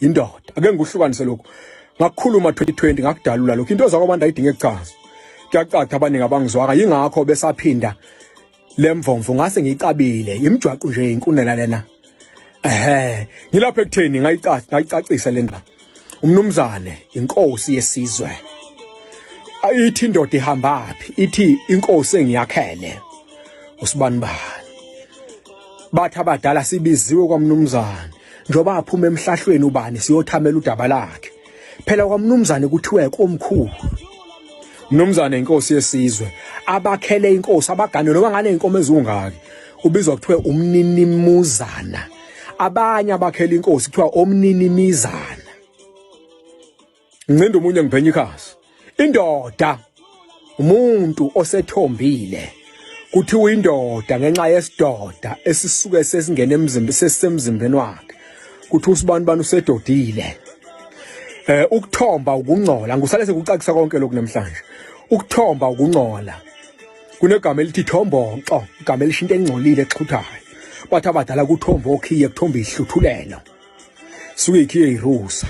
indoda ake ngikuhlukanise lokhu ngakukhuluma 2020 ngakudalula lokhu into zakwabantu ayidinge kuchaza kuyacatha abaningi abangizwaka yingakho besaphinda lemvomvu ngase ngicabile imjwaqo nje inkunela lena ehe ngilapha ekutheni ngayicathi ngayicacisa lendaba umnumzane inkosi yesizwe ayithi indoda ihambaphi ithi inkosi engiyakhele usibanibani bathi abadala sibiziwe kwamnumzane njengoba aphuma emhlahlweni ubani siyothamela udaba lakhe phela kwamnumzane kuthiwe komkhulu mnumzane inkosi yesizwe abakhele inkosi abagane noma ngane inkomo ezungaki ubizwa kuthiwe umninimuzana abanye abakhele inkosi kuthiwa omninimizana ngincinda omunye ngiphenya ikhasi indoda umuntu osethombile kuthiwa indoda ngenxa yesidoda esisuke sesingena emzimbeni sesisemzimbeni wakhe kuthi usibani bani usedodile eh ukuthomba ukungcola ngusale sekucacisa konke lokhu namhlanje ukuthomba ukungcola kunegama elithi thombonxo igama elishinto engcolile exhuthayo bathi abadala kuthomba okhiye kuthomba ihluthulelo suke ikhiye irusa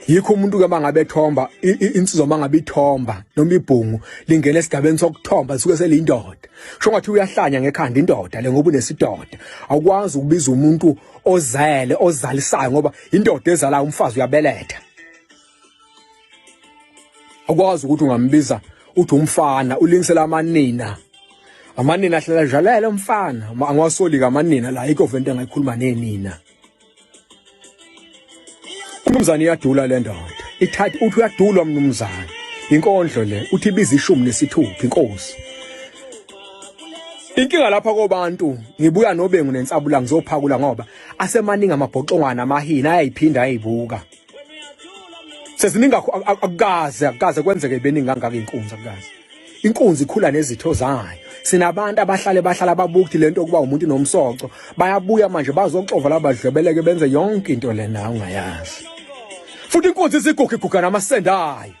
yikho umuntu ke mangabe ethomba insizwa mangabe ithomba noma ibhungu lingena esigabeni sokuthomba suke seliyindoda kusho ngathi uyahlanya ngekhanda indoda le ngoba unesidoda awukwazi ukubiza umuntu ozele ozalisayo ngoba indoda ezalayo umfazi uyabeletha awukwazi ukuthi ungambiza uthi umfana ulingisela amanina amanina ahlala jalela umfana angiwasoli kamanina la ikho vento engayikhuluma nenina Umnumzane iyadula le ndoda. Ithatha uthi uyadulwa mnumzane. Inkondlo le uthi ibiza ishumi nesithupha inkosi. Inkinga lapha kobantu ngibuya nobengu nensabula ngizophakula ngoba asemaningi amabhoxongwana amahini ayayiphinda ayibuka. seziningi akukaze akukaze kwenzeke beningi kangaka inkunzi akukaze inkunzi ikhula nezitho zayo sinabantu abahlale bahlala babukthi lento ukuba umuntu nomsoco bayabuya manje bazoxova labadlwebeleke benze yonke into lena ungayazi futhi inkunzi iziguga iguga namasende ayo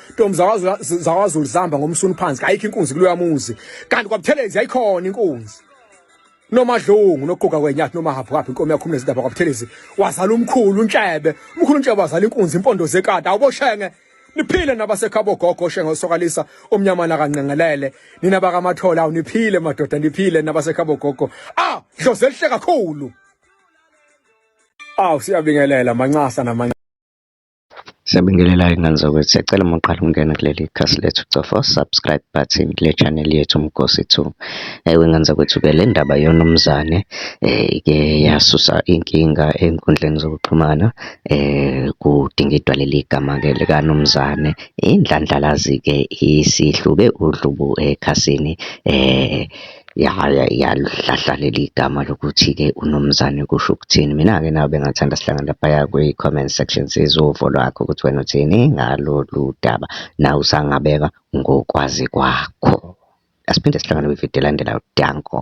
Ntombi zakwazulu zihamba ngomsunu phansi kayikho inkunzi kuloya muzi kanti kwabuthelezi yayikhona inkunzi nomadlungu noquka kwenyathi noma haphu kaphi inkomo yakho umnezindaba kwabuthelezi wazala umkhulu untshebe umkhulu untshebe wazala inkunzi impondo zekati awuboshenge niphile nabasekhabo gogo shenge osokalisa omnyamana kanqengelele nina bakamathola awuniphile madoda niphile nabasekhabo gogo ah dlozi elihle kakhulu aw siyabingelela mancasa namanye Siyabingelela ingane zakwethu, siyacela uma uqala ukungena kuleli khasi lethu cofa u-subscribe button kule channel yethu Mgosi Two. Ewe ngane zakwethu-ke le ndaba yoNumzane ke yasusa inkinga enkundleni zokuxhumana kudingidwa leli gama-ke likaNumzane. Indlandlalazi-ke isihluke udlubu ekhasini Ya ya yaluhlahla leli gama lokuthi-ke uMnumzane kusho ukuthini. Mina-ke nawe bengathanda sihlangane laphaya kwi-comment section sizwe uvo lwakho ukuthi wena uthini ngalolu daba. Nawe usangabeka ngokwazi kwakho. Asiphinde sihlangane kwividiyo elandelayo. Danko.